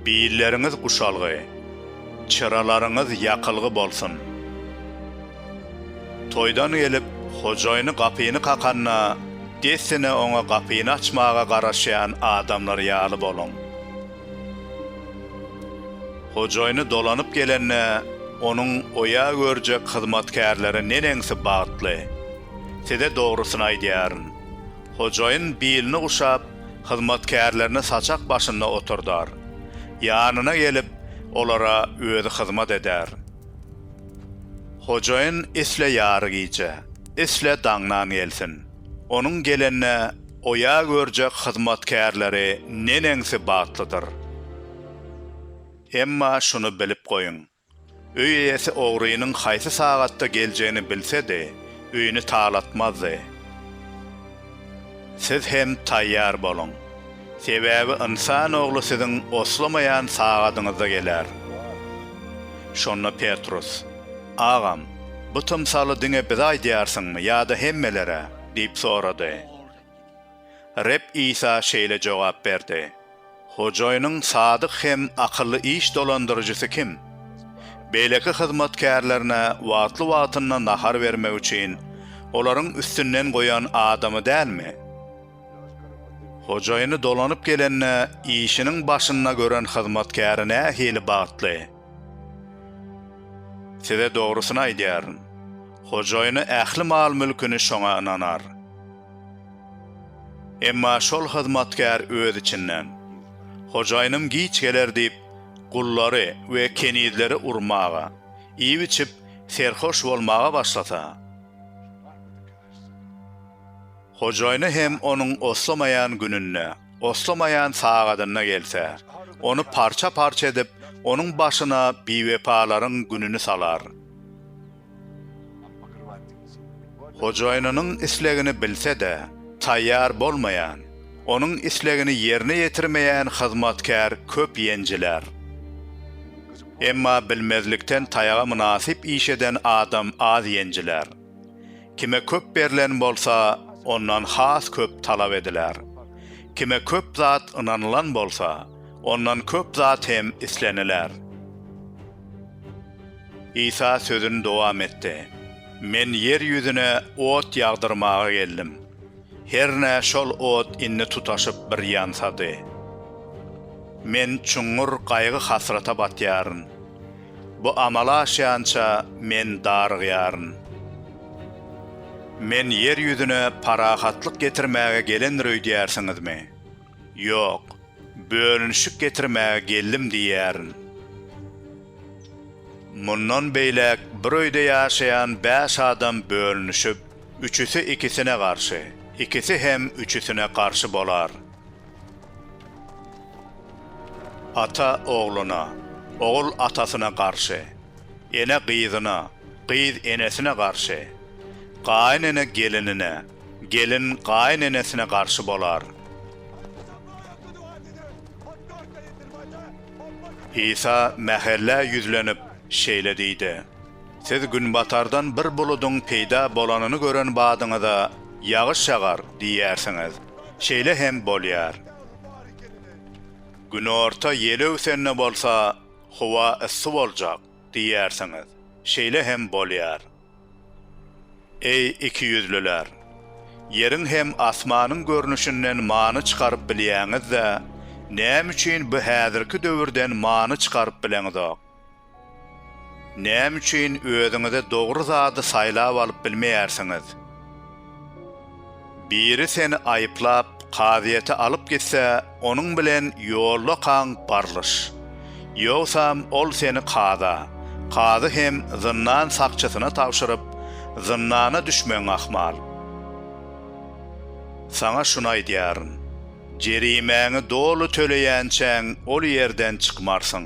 Billeriňiz guşalgy, çyralaryňyz ýakylgy bolsun! Toýdan gelip, hojaýyny gapyny kakanda, dessine oňa gapyny açmaga garaşýan adamlar ýaly boluň. Hojaýyny dolanyp gelende, onuň oýa görjek hyzmatkärleri neneňsi bagtly! Size dogrusyny aýdýaryn. Hojaýyn bilini guşap, hyzmatkärlerini saçak başynda oturdar. Ýanyna gelip, olara özi hyzmat eder. Hojaýyn isle ýary gije, isle daňdan gelsin. Onuň gelende oýa görjek hyzmatkärleri neneňsi bagtlydyr! Emma şuny bilip goýuň, Öý eýesi ogrynyň haýsy sagatda geljegini bilse-de, öýüni talatmazdy. Siz hem taýýar boluň. Sebäbi Ynsan Ogly siziň oslamaýan sagadyňyzda geler. Şonda Petrus, Agam, bu tymsaly diňe bize aýdýarsyňmy ýa-da hemmelere? diýip sorady. Reb Isa şeýle jogap berdi, Hojaýynyň sadyk hem akylly iş dolandyryjysy kim? Beýleki hyzmatkärlerine wagtly-wagtynda nahar bermek üçin olaryň üstünden goýan adamy dälmi? Hojaýyny dolanyp gelende işiniň başynda gören hyzmatkäri nähili bagtly! Size dogrusyny aýdýaryn, hojaýyny ähli mal-mülküni şoňa ynanar. Emma şol hyzmatkär öz içinden, Hojaýynym giç geler diýip, gullary we kenizleri urmaga, iýip-içip, serhoş bolmaga başlasa, hojaýyny hem onuň oslamaýan gününde, oslamaýan sagadynda gelse, ony parça-parça edip, onuň başyna biwepalaryň gününi salar. Hojaýynynyň islegini bilse-de, taýýar bolmaýan, onuň islegini ýerine ýetirmeýän hyzmatkär köp ýenjiler. Emma bilmezlikden taýaga mynasyp iş eden adam az ýenjiler. Kime köp berlen bolsa, ondan has köp talap ediler. Kime köp zat ynanylan bolsa, ondan köp zat hem isleniler. Isa sözüni dowam etdi, Men ýer ýüzüne ot ýagdyrmaga geldim. Hernä şol ot indi tutaşyp bir ýansady. Men çuňňur gaýgy-hasrata batýaryn. Bu amala aşýança men darygýaryn. Men ýer ýüzüne parahatlyk getirmäge gelendir öýdýärsiňizmi? Ýok, bölünişik getirmäge geldim diýýärin. Mundan beýläk bir öýde ýaşaýan bäş adam bölünişip, üçüsi ikisine garşy, ikisi hem üçüsine garşy bolar. Ata ogluna, ogul atasyna garşy, ene gyzyna, gyz enesine garşy, gaýyn ene gelinine, Gelin gaýyn enesine garşy bolar. Isa mähelle ýüzlenip, şeýle diýdi, Siz günbatardan bir buludyň peýda bolanyny gören badyňyza, Ýagyş ýagar! diýersiňiz. Şeýle hem bolýar. Günorta ýel öwsende bolsa, howa yssy boljak. Diýýärsiňiz, şeýle hem bolýar. Eý, ikiýüzlüler! Ýeriň hem asmanyň görnüşinden many çykaryp bilýäňiz-de, näme üçin bu häzirki döwürden many çykaryp bileňizok? Näme üçin özüňize dogry zady saýlap alyp bilmeýärsiňiz? Biri seni aýyplap, kazyýete alyp gitse, onuň bilen ýolda kaň barlyş. Ýogsam, ol seni kaza, kazy hem zyndan sakçysyna tabşyryp, zyndana düşmegiň ahmal. Saňa şuny aýdýaryn, jerimäňi doly töleýänçäň ol ýerden çykmarsyň.